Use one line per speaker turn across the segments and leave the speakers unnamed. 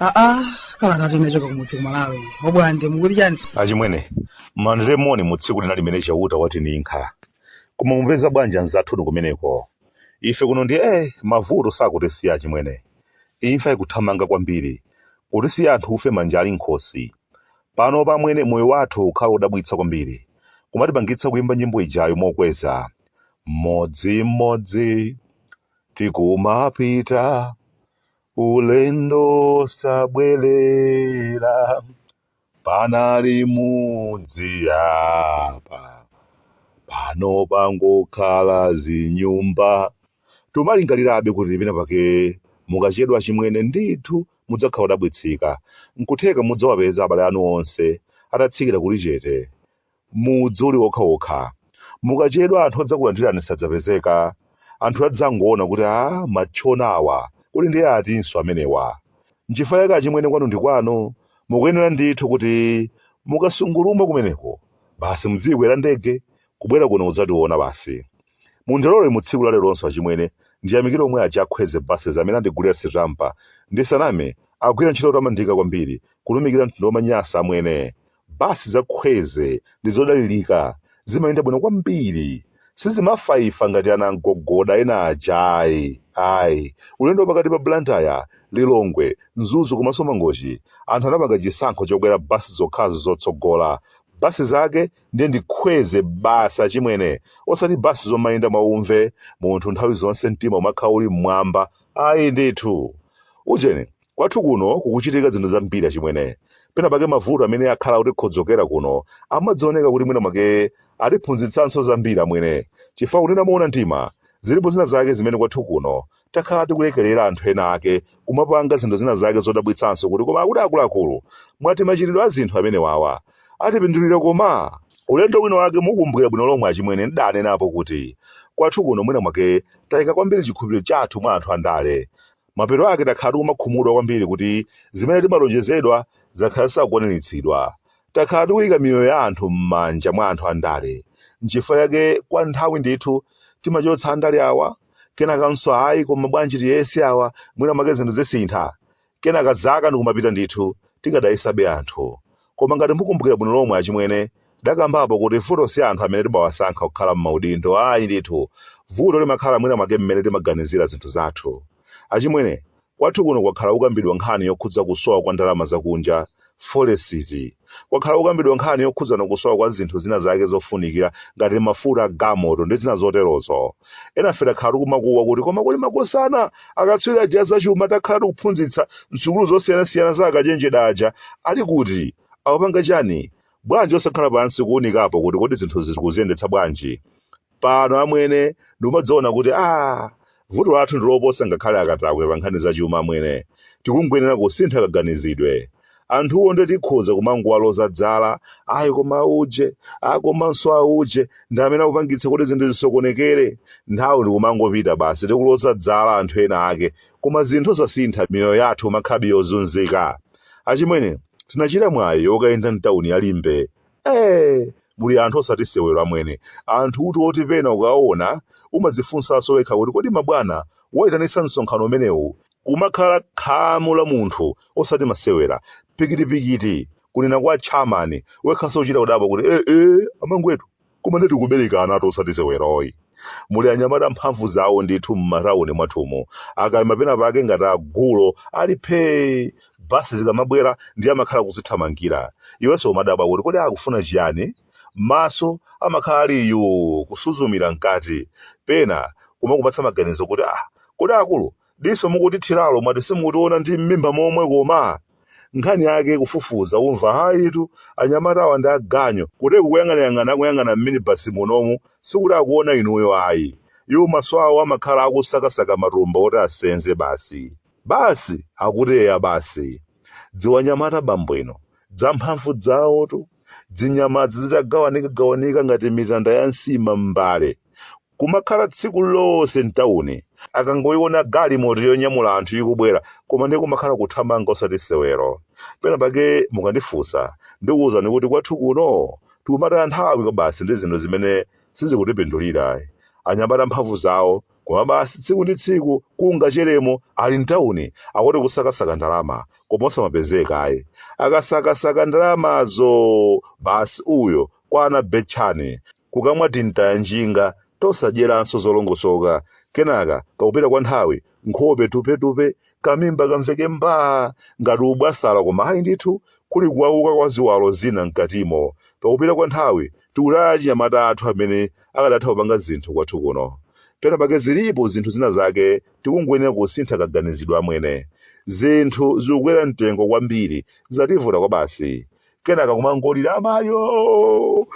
aa kala ngati inachoka kumudzi kumalawi obwande mukuti chani achimwene landirani moni mu tsiku lina limene chauta watininkha koma mupeza bwanji anzathu kumeneko ife kuno ndi eh mavuto sakutisiya achimwene Imfa ikuthamanga kwambiri. Kutisiya anthu ufe manja ali m'khosi. Panopa amwene, moyo wathu ukukhala wodabwitsa kwambiri. Kumatipangitsa kuimba nyimbo ijayo mokweza. Mmodzimmodzi tikumapita ulendo wosabwerera. panali mudzi apa pano pangokhala zinyumba tumalingalirabe kuti pena pake mukachedwa achimwene ndithu mudzakhala odabwitsika nkutheka mudzawapeza abale anu onse atatsikira kuli chete Mudzi uli wokhawokha. Mukachedwa anthu odzakulandirani sadzapezeka. Anthu adzangoona kuti, Aa, matchona awa, kodi ndiye atinso amenewa? Nchifukwa chake achimwene kwanu ndi kwanu, mukuyenera ndithu kuti mukasungulumwa kumeneko, basi mudziikwera ndege, kubwera kuno kudzationa basi. Mundilole mu tsiku la leronso achimwene, ndiyamikire omwe aja a Khweze Buses amene andigulira sitampa. Ndisaname, akugwira ntchito yotamandika kwambiri, kutumikira mtundu wa Amanyasa amwene. Basi za Khweze ndi zodalirika, zimayenda bwino kwambiri. Sizimafaifa ngati anamgogoda ena aja ayi. Ayi. Ulendo wapakati pa Blantyre, Lilongwe, Mzuzu komanso Mangochi, anthu anapanga chisankho chokwera basi zokhazo zotsogola. Basi zake ndiye ndi Khweze basi achimwene, osati basi zomayenda mwa umve, munthu nthawi zonse mtima umakhala uli m'mwamba, ayi ndithu. Ujeni, Kwathu kuno kukuchitika zinthu zambiri achimwene. Pena pake mavuto amene akhala akutikhodzokera kuno amaoneka kuti mwina mwake atiphunzitsanso zambiri amwene. Chifukwa kunena moona mtima, zilipo zina zake zimene kwathu kuno takhala tikulekerera anthu ena ake kumapanga zinthu zina zake zodabwitsanso kuti koma akuti akuluakulu mwati machitidwe a zinthu amenewawa atipindulira koma? Ulendo wina wake mukumbukira bwino lomwe achimwene ndaanenapo kuti kwathu kuno mwina mwake taika kwambiri chikhulupiriro chathu mwa anthu andale. Mapeto ake takhala tikumakhumudwa kwambiri kuti zimene timalonjezedwa zakhala zisakukwaniritsidwa. Takhala tikuika miyoyo ya anthu m'manja mwa anthu andale. N'chifukwa chake kwa nthawi ndithu timachotsa andale awa, kenakanso ayi koma bwanji tiyese awa, mwina mwake zinthu zisintha. Kenaka zaka ndi kumapita ndithu, tikadayesabe anthu. Koma ngati mukumbukira bwino lomwe achimwene, tidakambapo kuti vuto si anthu amene timawasankha kukhala m'maudindo ayi ndithu, vuto limakhala mwina mwake mmene timaganizira zinthu zathu. Achimwene, kwathu kuno kwakhala kukambidwa nkhani yokhudza kusowa kwa ndalama zakunja, folesiti. Kwakhala kukambidwa nkhani yokhudzana kusowa kwa zinthu zina zake zofunikira ngati mafuta a galimoto ndi zina zoterozo. enafe takhala tikumakuwa kuti koma kuli makosana akatswiri aja azachuma takhala tikuwaphunzitsa msukulu zosiyanasiyana zaukachenjede aja ali kuti akupanga chani bwanji osakhala pansi kuunikapo kuti kodi zinthu tikuziyendetsa bwanji pano amwene ndikumadzaona kuti a vuto lathu ndiloposa ngakhale akatakwe pa nkhani zachuma amwene tikungoyenera kusintha kaganizidwe Anthuwo nde tikhoza kumangowaloza dzala, ayi koma auje, a komanso auje ndi amene akupangitsa kuti zinthu zisokonekere. Nthawi ndikumangopita basi tikuloza dzala anthu ena ake, koma zinthu osasintha miyoyo yathu kumakhalabe yozunzika. Achimwene, tinachita mwayi wokayenda m'tauni ya Limbe. Eee! Muli anthu osati sewero amwene, anthutu oti pena ukawaona umadzifunsanso wekha kuti kodi mabwana aitanitsa msonkhano umenewu Kumakhala khamu la munthu osati masewera, pikitipikiti, kunena kwa chamuna wekhaso uchita kudabwa kuti eh eh amangwetu koma nde tikuberekanatu osati sewero ayi. Muli anyamata mphamvu zawo ndithu mma town mwathumu, akaima pena pake ngati agulu ali phee bus zikamabwera ndiye amakhala kuzithamangira iweso umadabwa kuti kodi akufuna chiyani? Maso amakhala ali yuu kusuzumira mkati pena kumakupatsa maganizo kuti ah kodi akulu Diso mukutithiralo mwati simukutiona ndi m'mimba momwe koma? Nkhani yake kufufuza umva ayitu anyamatawa ndi aganyu kuteroku kuyang'anayang'ana akuyang'ana m'minibasi munomu sikuti akuona inuyo ayi. Iwo maso awo amakhala akusakasaka matumba oti asenze basi. Basi! Akuti eya basi. Dzianyamata bambo inu. Dzamphamvu dzawotu. Dzinyamadzi dzitagawanikagawanika ngati mitanda ya nsima m'mbale. kumakhala tsiku lonse mtauni akangoyiona galimoto yonyamula anthu ikubwera koma ndiye kumakhala kuthamanga osati sewero pena pake mukandifunsa ndikuwuzani kuti kwathu kuno tikumataya nthawi kwabasi ndi zinthu zimene sizikutipindulira anyamata mphamvu zawo koma basi tsiku ndi tsiku kungacheremo ali mtauni akuti kusakasaka ndalama koma osamapezeka ayi akasakasaka ndalamazo basi uyo kwa anabetchani kukamwa timtayanjinga tosadyeranso zolongosoka, kenaka pakupita kwa nthawi nkhope tupetupe, kamimba kamveke mbaa ngati ubwasala koma ayi ndithu, kuli kuwauka kwa ziwalo zina m'katimo. Pakupita kwa nthawi tikutaya achinyamata athu amene akadatha kupanga zinthu kwathu kuno. Penapake zilipo zinthu zina zake tikungoyenera kusintha kaganizidwe amwene. Zinthu zikukwera mtengo kwambiri, zativuta kwabasi. kenaka kumangolira amayo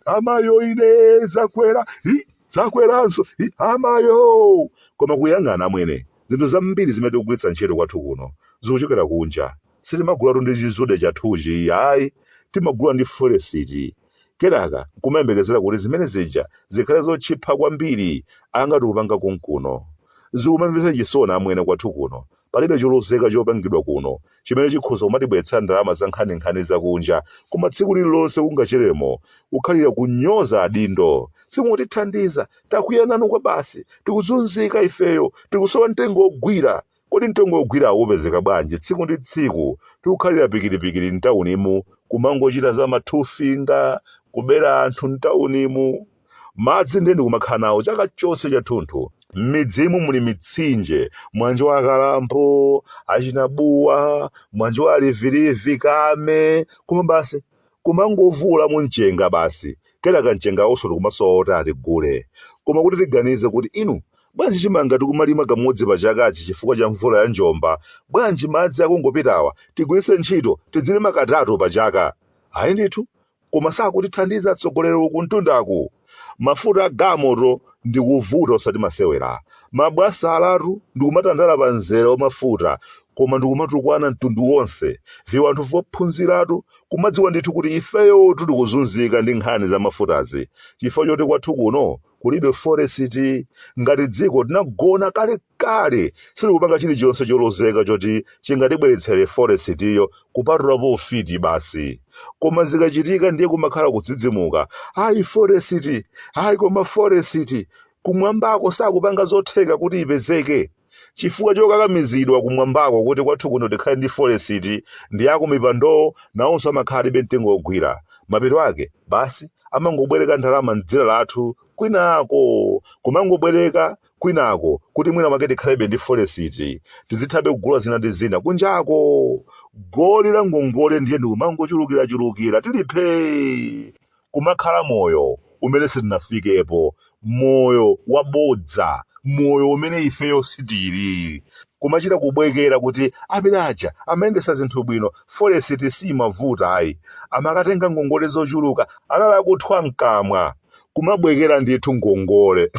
amayo ine zakwera hi zakweranso hi amayo koma kuyang'ana amwene zinthu zambiri zimene tikugwiritsa ntchito kwathu kuno zikuchokera kunja sitimagulatu ndi chizude chathuchi ayi timagula ndi foresiti kenaka nkumayembekezera kuti zimene zija zikhale zotchipa kwambiri angati kupanga konkuno zikumamvetsa chisoni amwene kwathu kuno Palibe cholozeka chopangidwa kuno chimene chikhoza kumatibweretsera ndalama za nkhaninkhani zakunja, koma tsiku lililonse kungacheremo kukhalira kunyoza adindo. Simukutithandiza! Takwiya nanu kwabasi! Tikuzunzika ifeyo! Tikusowa mtengo wogwira! Kodi mtengo wogwirawo upezeka bwanji? Tsiku ndi tsiku tikukhalira pikiripikiri m'taunimu, kumangochita za mathufinga, kubera anthu m'taunimu. Madzi ndiye ndikumakhala nawo chaka chonse chathunthu. M'midzimu muli mitsinje, mwanjo wa Kalambo, Achinabuwa, mwanjo wa Livilivi, Kame, koma basi kumangovuulamo mchenga basi. Kenaka mchenga wonso tikumasowa woti atigule. Koma kuti tiganize kuti inu bwanji chimanga tikumalima kamodzi pa chakachi chifukwa cha mvula ya njomba, bwanji madzi akungopitawa tigwiritse ntchito tidzilima katatu pa chaka? Ayi ndithu, koma sakutithandiza atsogoleri uku mtundaku mafuta a galimoto ndikuvuta osati masewera mabwana alatu ndikumatandala pa mzere wa mafuta koma ndikumatukwana mtundu wonse viwanthu vophunziratu kumadziwa ndithu kuti ifeyotu tikuzunzika ndi nkhani za mafutazi chifukwa choti kwathu kuno kulibe foresiti ngati dziko tinagona kale kale silikupanga chilichonse cholozeka choti chingatibweretsere foresitiyo kupatulapo ufiti basi koma zikachitika ndiye kumakhala kudzidzimuka ayi foresiti ayi koma foresiti kumwambako sakupanga zotheka kuti ipezeke chifukwa chokakamizidwa kumwambako kuti kwathu kuno tikhale ndi foresiti ndi akumipandowo nawonso amakhala alibe mtengo wogwira mapeto ake basi amangobwereka ndalama m'dzina lathu kwinako kumangobwereka kwinako kuti mwina mwake tikhalebe ndi foresiti tizithabe kugula zina ndi zina kunjako goli la ngongole ndiye ndikumangochulukirachulukira tili phee kumakhala moyo umene sitinafikepo moyo wabodza moyo umene ifeyo sitili kumachita kubwekera kuti amene aja amayendesa zinthu bwino foresiti simavuta ayi amakatenga ngongole zochuluka anali akuthwa mkamwa kumabwekera ndithu ngongole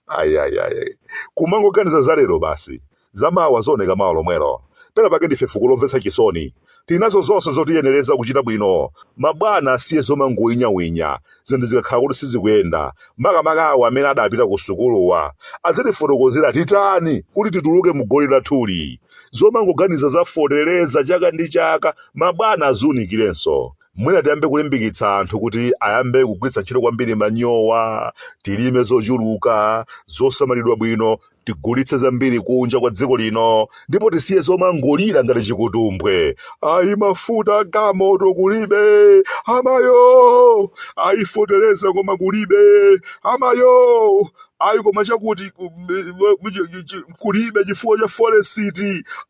ayayayi kumangoganiza za lero basi zamawa zioneka mawa lomwelo pena pake ndife fuko lomvetsa chisoni tinazo zonse zotiyenereza kuchita bwino mabwana asiye zomangoyinyawinya zinthu zikakhala kuti sizikuyenda makamaka awo amene adapita ku sukuluwa adzitifotokozera titani kuti tituluke mu goli lathuli zomangoganiza za fotereza chaka ndi chaka mabwana aziunikirenso mwina tiyambe kulimbikitsa anthu kuti ayambe kugwiritsa ntchito kwambiri manyowa tilime zochuluka zosamalidwa bwino tigulitse zambiri kunja kwa dziko lino ndipo tisiye zomangolira ngati chikutumbwe ayi mafuta agalimoto kulibe amayo ayi fotereza koma kulibe amayo ayi koma chakuti ku- m- m- m- chi- chi- chi- kulibe chifukwa cha forex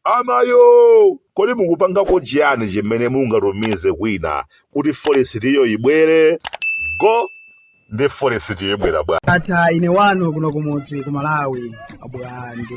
amayo kodi mukupangapo chiyani chimene mungatumize kwina kuti forex iyo ibwere kodi forex ibwera bwa atha ine wanu kuno kumudzi ku malawi abwande